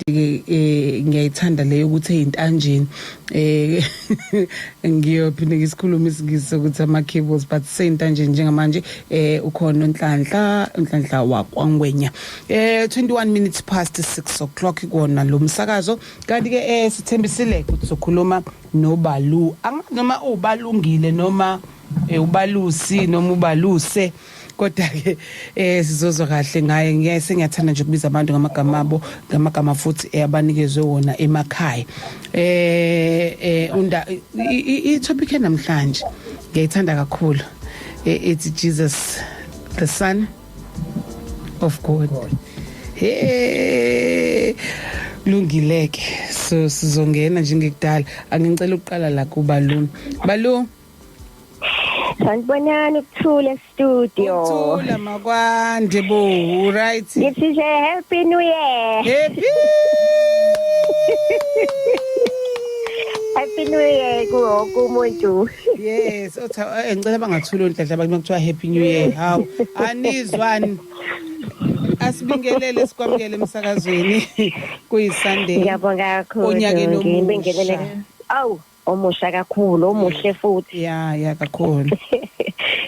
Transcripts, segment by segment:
ke eh ngiyayithanda leyo ukuthi eyintanjeni eh ngiyophinde ngisikhuluma isingisi ukuthi ama cables but seyintanjeni njengamanje eh ukhona unhlanhla unhlanhla wakwangwenya eh 21 minutes past 6 o'clock kona lo msakazo kanti ke eh sithembisile ukuthi sokhuluma nobalu noma ubalungile noma eh, ubalusi noma ubaluse kodwa ke eh sizozwa kahle ngaye ngiyaye sengiyathanda nje ukubiza abantu ngamagama abo ngamagama futhi eh, abanikezwe wona emakhaya eh eh unda i topic namhlanje ngiyayithanda kakhulu eh, it's Jesus the son of God hey lungileke so sizongena njengekudala angicela ukuqala la kubaluni balungu Sanibonani ukuthule studio. Ukuthula makwande bo, right? Ngithi nje happy new year. Happy Happy New Year kuwonke umuntu. Yes, otha eh, ngicela bangathula onhlanhla abantu kuthiwa Happy New Year. Hawu, anizwani? Asibingelele sikwamukele emsakazweni kuyiSunday. Ngiyabonga kakhulu. Onyakeni omusha. Ngibingelele. Awu. omusha kakhulu omuhle futhi ya ya kakhulu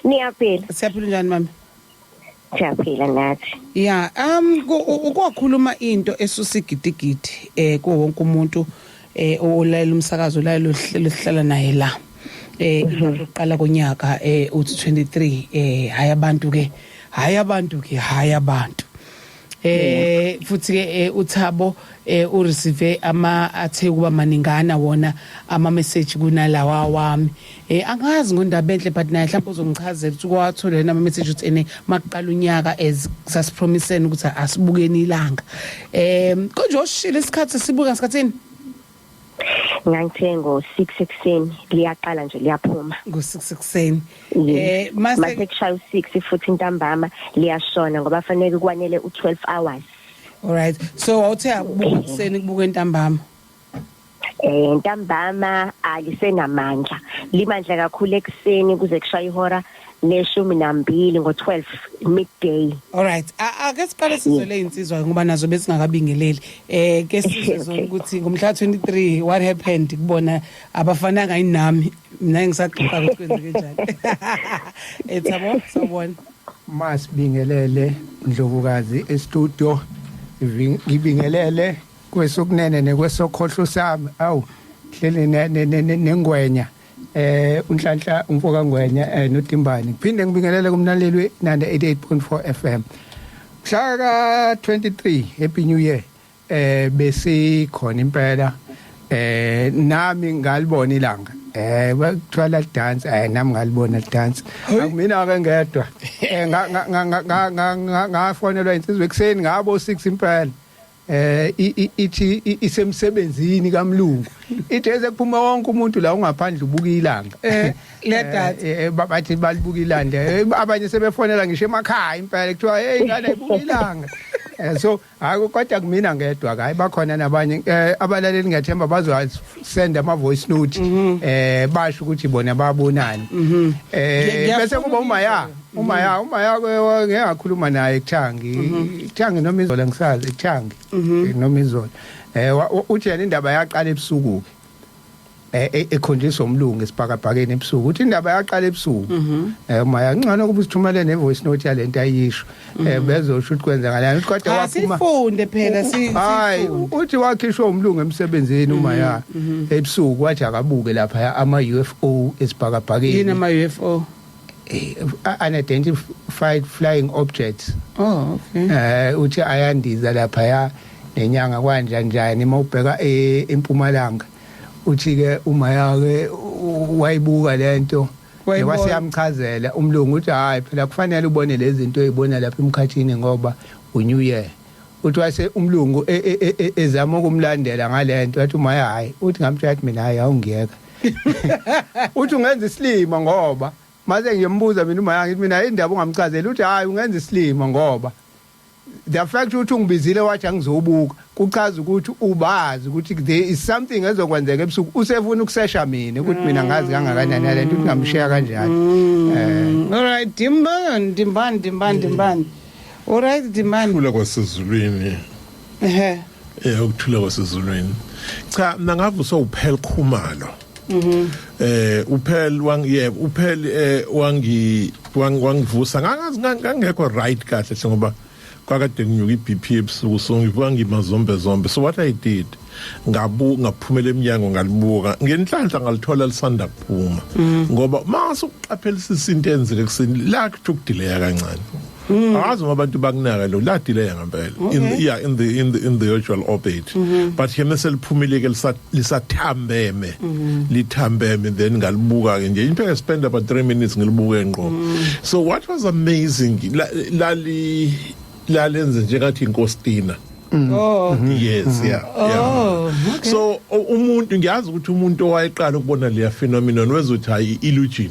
niyaphila siyaphila njani mama siyaphila ngathi ya um ukwakhuluma into esusa igidigidi eh kuwo wonke umuntu eh olalela umsakazo olalela uhlelo sihlala naye la eh mhm. iqala konyaka eh uthi 23 eh hayi abantu ke hayi abantu ke hayi abantu eh futhi ke eh, uThabo eh u receive ama athe kuba maningana wona ama message kunalawa wami eh angazi ngondaba enhle but naye mhlawumbe uzongichazela ukuthi kwathola yena ama message ukuthi ene makuqala unyaka as sasipromisene ukuthi asibukeni ilanga eh konje oshile isikhathi sibuka ngasikhathini ngangithe ngo-six ekuseni liyaqala nje liyaphuma ngo-six ekuseni um eh, mase kushaya u-six futhi intambama liyashona ngoba faneke kwanele u-twelve hours alright so wawuthe akubuka ekuseni kubuka intambama eh ntambama alisenamandla limandla kakhulu ekseni kuze kushaya ihora neshumi nambili ngo-12 midday alright ake siqale sizwe leyinsizwa ngoba nazo besingakabingeleli eh ke sizwe zona ukuthi ngomhla 23 what happened kubona abafananga yini nami mina ngisaxoxa ukuthi kwenzeke njani ethabo eh, sawubona masibingelele ndlovukazi estudio ngibingelele kwesokunene nekwesokhohlo sami awu hleli nengwenya ne, ne, ne, ne, eh unhlanhla umfoka ngwenya eh notimbani phinde ngibingelele kumlalelwe 98.4 FM mhla ka 23 happy new year eh besikhona impela eh nami ngalibona ilanga eh bathwala dance eh nami ngalibona dance akumina ke ngedwa eh ngafonelwa insizwe ekseni ngabo 6 impela eh ithi isemsebenzini kamlungu ithi ekuphuma wonke umuntu la ungaphandle ubuka ilanga eh nedata eh, eh, bathi balibuka ilanga eh, abanye sebefonela ngisho emakhaya impela kuthiwa hey ngane ibuka ilanga Eh, so hayi kodwa kumina ngedwa hayi bakhona nabanye eh, abalaleli ngethemba bazosenda ama voice note mhm. eh basho ukuthi bona babonani mhm. eh bese kuba uma ya uma ya uma ya ngeke akhuluma naye kuthangi kuthangi noma izola ngisazi kuthangi noma izola eh wa- wa- uthi yena indaba yaqala ebusuku ke eh e- ekhonjiswa umlungu esibhakabhakeni ebusuku uthi indaba yaqala ebusuku eh uma ya ngcono ukuba usithumele ne voice note yalento ayisho eh bezosho ukuthi kwenzakalani uthi kodwa waphuma asifunde phela si- hayi sifunde. u- uthi wakhishwa umlungu emsebenzini uma ya ebusuku wathi akabuke lapha ama UFO yini esibhakabhakeni ama-ufo uh, unidentified flying objects oh okay eh uthi ayandiza lapha ya nenyanga kwanja njani uma ubheka e, empumalanga uthi ke uma yake wayibuka lento wase yamchazela umlungu uthi hayi phela kufanele ubone lezi zinto ezibona lapha emkhathini ngoba unew year uthi wase umlungu e, e, ezama ukumlandela ngalento wathi uma hayi uthi ngamthatha mina hayi awungiyeka uthi ungenza isilima ngoba mase ngiyembuza mina uma yangithi mina indaba ungamchazela uthi hayi ungenza isilima ngoba the fact ukuthi ungibizile wathi angizobuka kuchaza ukuthi ubazi ukuthi there is something ezokwenzeka ebusuku usefuna ukusesha mina ukuthi mina ngazi kangakanani lento ukuthi ngamshiya kanjani mm. eh all right dimban dimban dimban dimban all right dimban khula kwasezulwini ehe eh ukuthula kwasezulwini cha mina ngabe usowuphel khumalo mhm eh uphel wang yebo uphel eh wangi wangivusa ngangazi ngangekho right kahle hle ngoba kwakade nginyuka iBP ebusuku so ngivuka ngimazombe zombe so what i did ngabu ngaphumela eminyango ngalibuka ngenhlanhla ngalithola lisanda kuphuma mm. ngoba mase uqaphelisisa into enzeke kusini la kuthi ukudileya kancane Mm. angazi uma abantu bakunaka lo ladileya ngempela in the, yeah in the in the in the usual orbit mm -hmm. but yena seliphumile ke lisathambeme mm -hmm. lithambeme then ngalibuka ke nje into e spend about 3 minutes ngilibuke ngqo mm. so what was amazing lali lalenze njengathi inkostina Mm. Oh. Mm-hmm. Yes, mm-hmm. yeah. Oh, yeah. Okay. So umuntu ngiyazi ukuthi umuntu owayeqala ukubona leya phenomenon wezothi hayi illusion.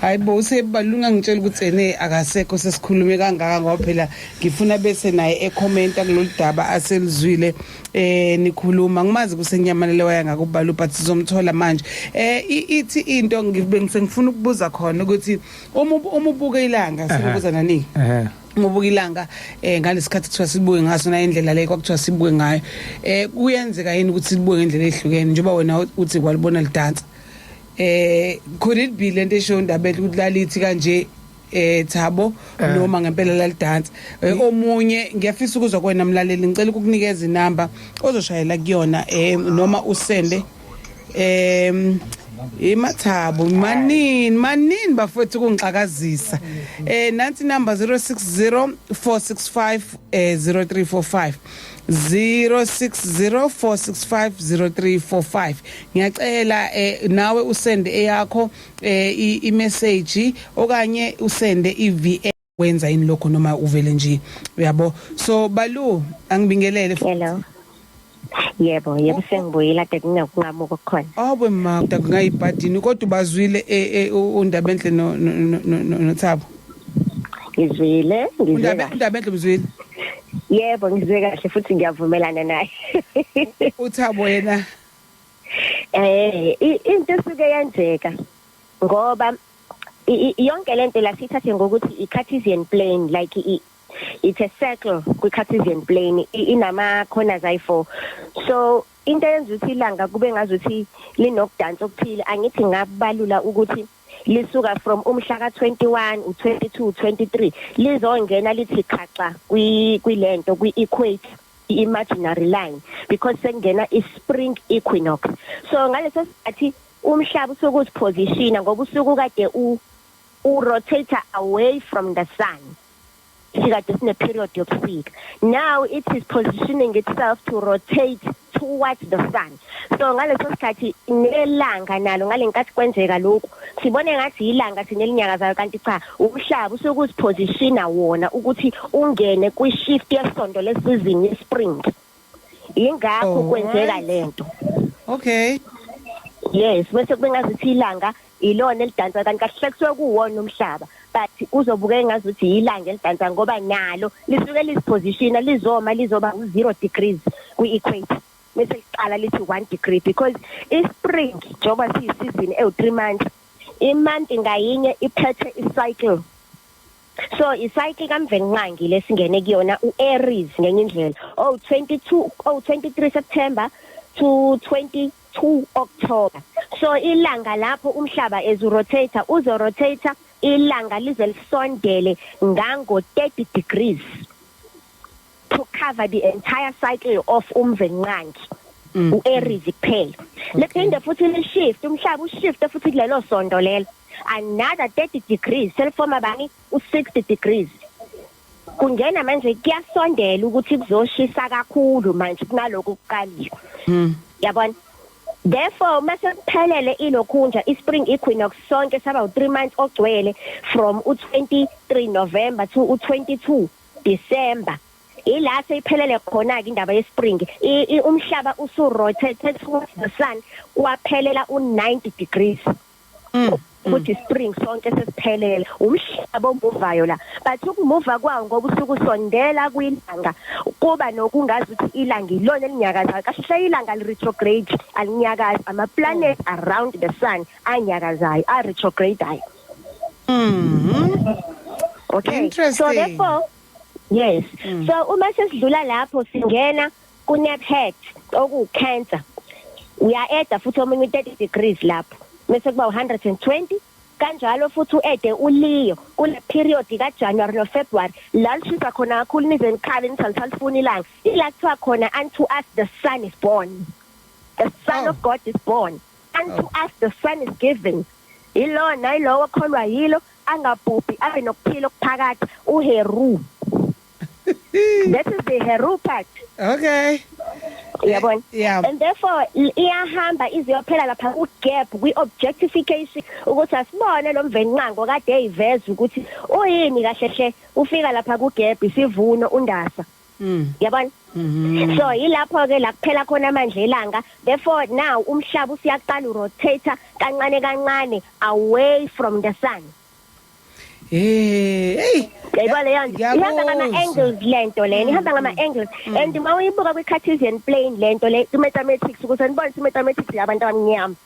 hayi bo usebalunga ngitshela ukuthi ene akasekho sesikhulume kangaka ngoba phela ngifuna bese naye ekhomenta kulolu daba aselizwile eh nikhuluma ngimazi kusenyamalele waya ngakubala but sizomthola manje eh ithi into ngibengifuna ukubuza khona ukuthi uma uma ubuka ilanga sikubuza nani eh ngobuka ilanga eh ngalesikhathi kuthiwa sibuke ngaso na indlela le kwakuthiwa sibuke ngayo eh kuyenzeka yini ukuthi sibuke ngendlela ehlukene njengoba wena uthi kwalibona lidansa eh could it be lento esho ndabethu ukuthi lalithi kanje eh thabo eh. noma ngempela lalidansa eh, mm. omunye ngiyafisa ukuzwa kwena mlaleli ngicela ukukunikeza inamba ozoshayela kuyona eh noma usende em imathabo manini manini bafowethu kungixakazisa eh nansi number 060465 0345 eh, 0604650345 ngiyacela eh, nawe usende eyakho eh, imessage okanye usende iVA wenza yini lokho noma uvele nje uyabo so balu angibingelele hello yebo yebo sengibuyela kade kungakungamuka okukhona awube mama kungayibhadini kodwa ubazwile eh, eh, undaba enhle nothabo ngizwile ngizwe Undabe kahle undabenhle mzwile. yebo ngizwe kahle futhi ngiyavumelana naye Uthabo yena. eh i- into esuke yenzeka ngoba i- i- yonke lento la sithathe ngokuthi i Cartesian plane like i it's a circle kwi Cartesian plane i- inama corners ayi4 so into yenza ukuthi ilanga kube ngazuthi linokudansa okuthile angithi ngabalula ukuthi lisuka from umhla ka-21 u-22 23 lizongena lithi khaxa kwilento kwi-equate i-imaginary line because sekungena i-spring equinox so ngaleso sikhathi umhlaba usuke uziphosishina ngoba usuke kade u-rotator away from the sun sikade sine period yobusika now it is positioning itself to rotate towards the sun so ngaleso sikhathi nelanga nalo ngalenkathi kwenzeka lokhu sibone ngathi yilanga thina elinyakazayo kanti cha umhlaba usuke uzipositiona wona ukuthi ungene kwi shift yesonto lesizini yespring yingakho Oh, kwenzeka alright. lento Okay. yes bese kube ngazithi ilanga ilona elidansa kanti kahle kusuke kuwona umhlaba but uzobuka engazi ukuthi yilanga elidansa ngoba nalo lisuke lizipositiona lizoma lizoba u-zero degrees kwi-equator bese liqala lithi one degree because i-spring njengoba siyisizini ewu-three months imonth ngayinye iphethe i-cycle so icycle kamvelinqangi lesingene kuyona uAries ngenye indlela oh 22 oh 23 September to 22 October so ilanga lapho umhlaba ezurotate uzorotate ilanga lize lisondele ngango 30 degrees to cover the entire cycle of umvenqangi mm. uAries kuphela lephinde futhi le shift umhlaba ushift futhi kulelo sonto lelo another 30 degrees selifoma bani u60 degrees kungena manje kuyasondela ukuthi kuzoshisa kakhulu manje kunaloko kuqalile mm. yabona Therefore mase kuphelele ilokhunja ispring equinox sonke saba u3 months ogcwele from u23 November to u22 December ila seyiphelele khona ke indaba yespring umhlaba usu rotate towards the sun kwaphelela u90 degrees mm, mm. ukuthi spring sonke sesiphelele umhlaba omuvayo la but ukumuva kwawo ngoba usuku sondela kwilanga kuba nokungazi ukuthi ilanga ilona elinyakazayo kahle hle ilanga li retrograde alinyakazi ama planet around the sun anyakazayo a retrograde Okay. So Interesting. therefore yes. So uma sesidlula lapho singena ku nap head oku cancer. Uya edda futhi omunye u 30 degrees lapho. Mase kuba u 120 kanjalo futhi uede uliyo kule period ka January no February la lishisa khona kakhulu nize nikhale nithi alisalifuni ilanga ila kuthiwa khona unto us the sun is born the son Oh. of God is born unto us the son is given ilona ilowo kholwa yilo angabhubhi abe nokuphila okuphakathi uheru that is the heru part okay uyabona yeah. and therefore iyahamba iziyophela lapha ku gap kwi objectification ukuthi asibone lo mvenqango kade eyiveza ukuthi uyini kahle hle ufika lapha ku gap isivuno undasa Mm. Yabona? Mm-hmm. So yilapho ke la kuphela khona amandla elanga therefore now umhlaba usiyaqala urotate kancane kancane away from the sun. Eh, hey. Yayibona leyo nto. Ihamba ngama angles lento lena, mm. ihamba ngama angles. Mm. And uma uyibuka kwi Cartesian plane lento le, i mathematics ukuze nibone i mathematics yabantu abamnyama.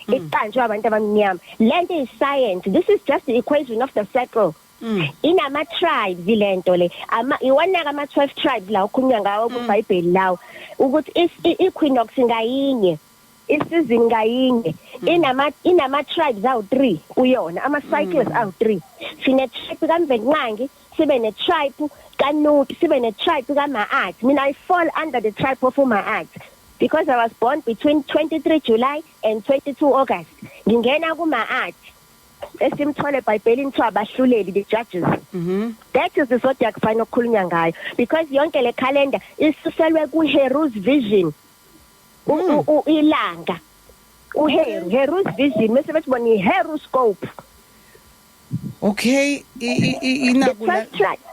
Mm. iqanjwe abantu abamnyama lento is science this is just the equation of the circle Mm. inama tribes lento le ama iwanaka ama 12 tribes la okhulunywa ngawo mm. kuBhayibheli lawo ukuthi iEquinox ngayinye isizini ngayinye mm. inama inama tribes awu 3 kuyona ama cycles awu 3 sine tribe kaMvenqangi sibe ne tribe kaNuti sibe ne tribe kaMaat mina i fall under the tribe of Maat because i was born between 23 July and 22 August ngingena kuMaat esimthole eBhayibhelini kuthiwa abahluleli the judges mhm that is the zodiac sign okukhulunywa ngayo because yonke le calendar isuselwe ku Heru's vision U- Mm. u- u- ilanga u Heru Heru's vision mase bethi bona i Heru scope okay i- i- i- the inaku la 12 tribe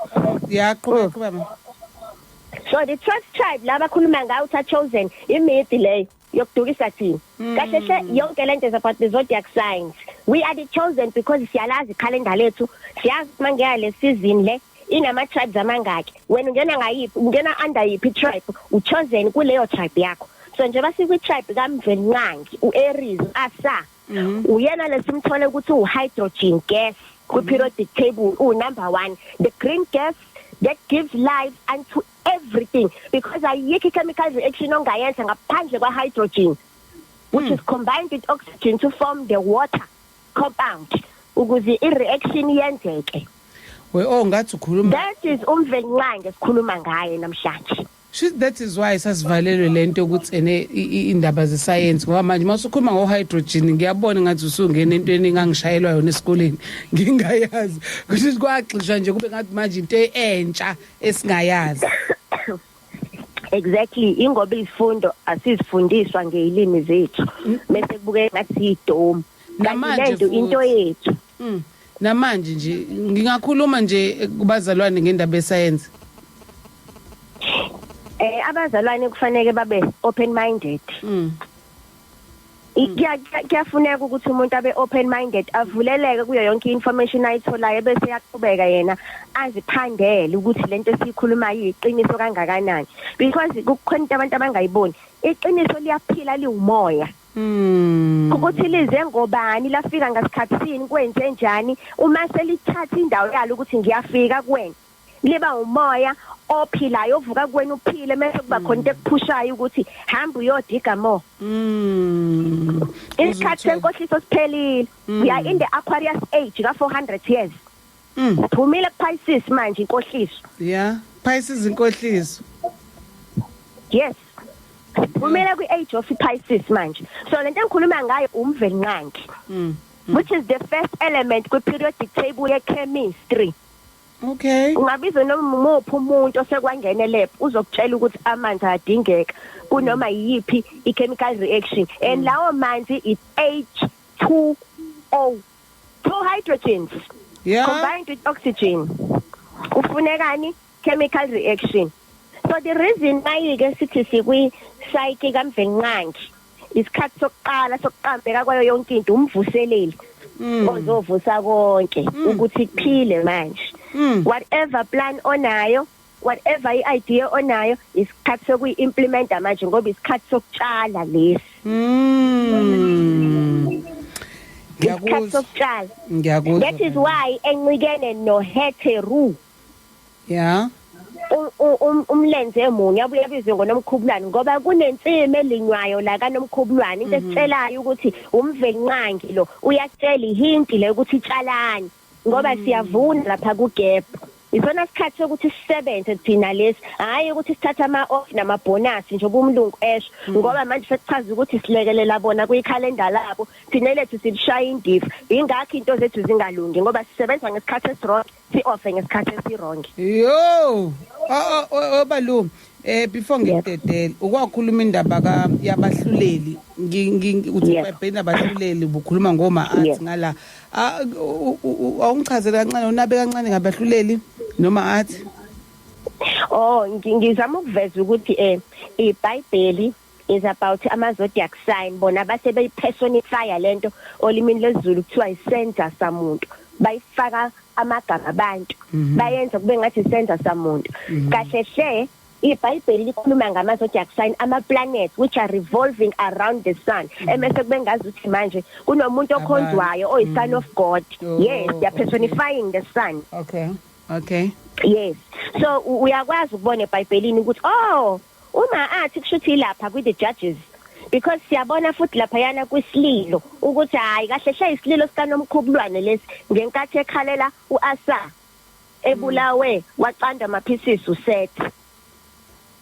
ya qhubeka Mm. qhubeka ma so the 12 tribe laba khuluma ngayo utha chosen imidi leyo yokudukisa thina mm. kahle hle yonke lento is about the zodiac signs we are the chosen because siyalazi calendar lethu siyazi mangeya le season le inama tribes amangaki wena ungena ngayiphi ungena under yiphi tribe u chosen kuleyo tribe yakho so nje basikwi tribe kamvelinqangi u Aries asa mm-hmm. uyena lesimthole ukuthi u hydrogen gas ku periodic table u number 1 the green gas that gives life unto everything because ayikho chemical reaction ongayenza ngaphandle kwa hydrogen which is combined with oxygen to form the water compound ukuze i reaction yenzeke we oh ngathi ukhuluma that is umvelinqange sikhuluma ngaye namhlanje She, that is why sasivalelwe lento yokuthi ene indaba zesayensi ngoba manje masukhuluma ngo hydrogen ngiyabona ngathi usungena entweni engangishayelwa yona esikoleni ngingayazi ukuthi kwagxishwa nje kube ngathi manje into entsha esingayazi exactly ingoba izifundo asizifundiswa ngeilimi zethu bese kubuke ngathi idome namanje into into yethu mm. namanje nje ngingakhuluma nje kubazalwane ngendaba yesayensi eh abazalwane kufanele babe open minded mm. kuyafuneka ukuthi umuntu abe open minded avuleleke kuyo yonke information ayitholayo bese yaqhubeka yena aziphandele ukuthi lento esiyikhuluma yiqiniso kangakanani because kukhona into abantu abangayiboni iqiniso liyaphila liwumoya Mm. ukuthi lize ngobani lafika ngasikhathi sini kwenze njani uma selithatha indawo yalo ukuthi ngiyafika kuwena liba umoya ophilayo ovuka kuwena uphile mase kuba khona into ekuphushayo ukuthi hamba uyodiga mo mm isikhathi senkohliso siphelile mm. we are in the aquarius age ka 400 years mm phumile ku pisces manje inkohliso yeah pisces inkohliso yes phumile kwi age of pisces manje so lento engikhuluma ngayo umveli nqangi mm. mm. which is the first element kwi periodic table ye chemistry Okay. Ungabiza noma umuphi umuntu osekwangene lab uzokutshela ukuthi amanzi adingeka kunoma yiphi i-chemical reaction and mm. lawo manzi is H2O two hydrogens yeah. combined with oxygen kufunekani chemical reaction so the reason mayike sithi sikwi psyche kamvelinqangi isikhathi sokuqala sokuqambeka kwayo yonke into umvuseleli mm. ozovusa konke mm. ukuthi kuphile manje mm. whatever plan onayo whatever i-idea onayo isikhathi sokuyi-implimenta manje ngoba isikhathi sokutshala lesi isikhathi sokutshala that is why encikene noheteru ya u- u- um- umlenze munye abuye abizwe ngonomkhubulwane ngoba kunensimi elinywayo la kanomkhubulwane into esitshelayo ukuthi umvelinqangi lo uyakutshela ihinti le ukuthi itshalani ngoba siyavuna lapha kugebhu isona sikhathi sokuthi sisebenze thina lesi hhayi ukuthi sithathe ama-off namabhonasi njengoba umlungu esho ngoba manje sekuchaza ukuthi silekelela bona kwikhalenda labo thina lethu silishaya indiva yingakho into zethu zingalungi ngoba sisebenza ngesikhathi esironke si offer ngesikhathi esiwrong yo obalu eh before ngidedele ukwakhuluma indaba ka yabahluleli uthi ubhena abahluleli bukhuluma ngoma athi ngala awungichazele kancane unabe kancane ngabahluleli noma athi oh ngizama ukuveza ukuthi eh iBhayibheli is about ama zodiac sign bona base beyi personify lento olimini lezulu kuthiwa isenza samuntu bayifaka amagama abantu mhm. bayenza kube ngathi isenza samuntu mhm. kahle hle iBhayibheli likhuluma ngama zodiac sign ama planets which are revolving around the sun mhm. emese kube ngazi ukuthi manje kunomuntu okhonzwayo oyi son of god oh, yes they are personifying the sun okay okay yes so uyakwazi ukubona eBhayibhelini ukuthi oh Uma athi kushuthi ilapha kwi the judges because siyabona futhi laphayana kwisililo ukuthi hayi kahle hle isililo sikanomkhubulwane lesi ngenkathi ekhalela uAsa ebulawe waqanda amaphisisi uset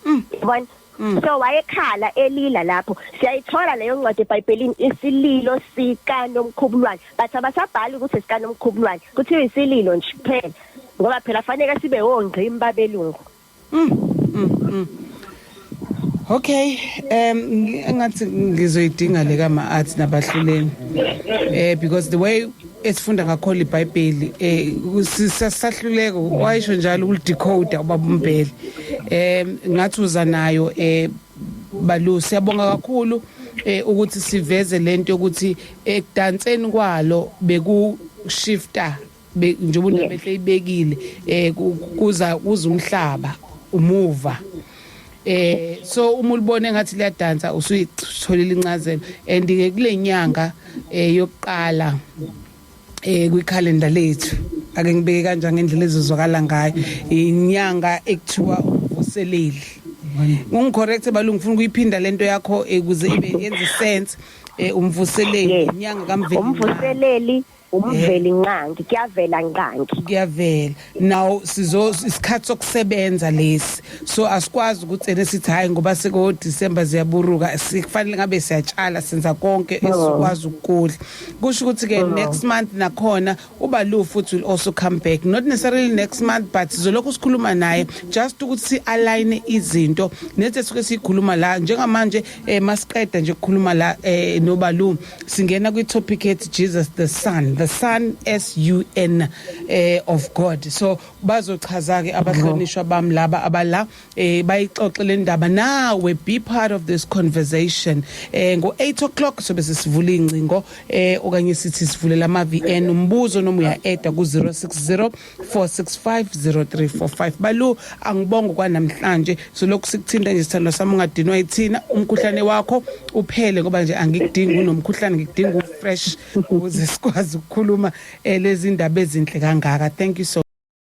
mm. yabona mm. so wayekhala elila lapho siyayithola leyo ncwadi eBhayibhelini isililo sika nomkhubulwane bathi abasabhali ukuthi sika nomkhubulwane kuthiwa isililo nje kuphela ngoba phela fanele sibe wongqimba belungu Mm, mm, mm. Okay, um ngathi ngizoyidinga le ka ma arts nabahluleni. Eh because the way esifunda ngakho iBhayibheli eh sisahluleka wayisho njalo ukulidecode ubabumbheli. Eh ngathi uza nayo eh balu siyabonga kakhulu eh ukuthi siveze lento ukuthi ekudanseni kwalo beku shifter Be- njengoba Yes. undabe seyibekile eh ku- kuza kuza umhlaba umuva eh so uma ulibona engathi liyadansa usuyitholile incazelo and ke kule nyanga eh yokuqala eh kwikhalenda lethu ake ngibeke kanjani ngendlela ezozwakala ngayo inyanga ekuthiwa umvuseleli ungicorrect balungu ngifuna ukuyiphinda lento yakho eh, ukuze ibe yenze sense eh umvuseleli Yes. inyanga kamveli umvuseleli umveli eh. nqangi kuyavela nqangi kuyavela now sizo isikhathi sokusebenza lesi so asikwazi ukuthi ene sithi hayi ngoba seko December ziyaburuka sikufanele ngabe siyatshala senza konke oh. esikwazi ukudla kusho ukuthi ke oh. next month nakhona uba lu futhi will also come back not necessarily next month but sizolokhu sikhuluma naye just ukuthi si align izinto nethi suke sikhuluma la njengamanje eh, masiqeda nje ukukhuluma la eh, nobalu singena kwi-topic ethi jesus the son the son s u n eh, of god so bazochaza-ke abahlonishwa bam laba abala eh, bayixoxe le ndaba nawe be part of this conversation eh, ngo-8 o'clock sobe sesivula iy'ngcingo eh, okanye sithi sivulela ama-vn umbuzo noma uya-eda ku-060 4650345 balu angibonge kwanamhlanje silokhu sikuthinta nje sithandwa sami ungadinwa yithina umkhuhlane wakho uphele ngoba nje angikudingi unomkhuhlane ngikudinga ufresh ukuze sikwazi ukukhuluma eh, lezi ndaba ezinhle kangaka thank you so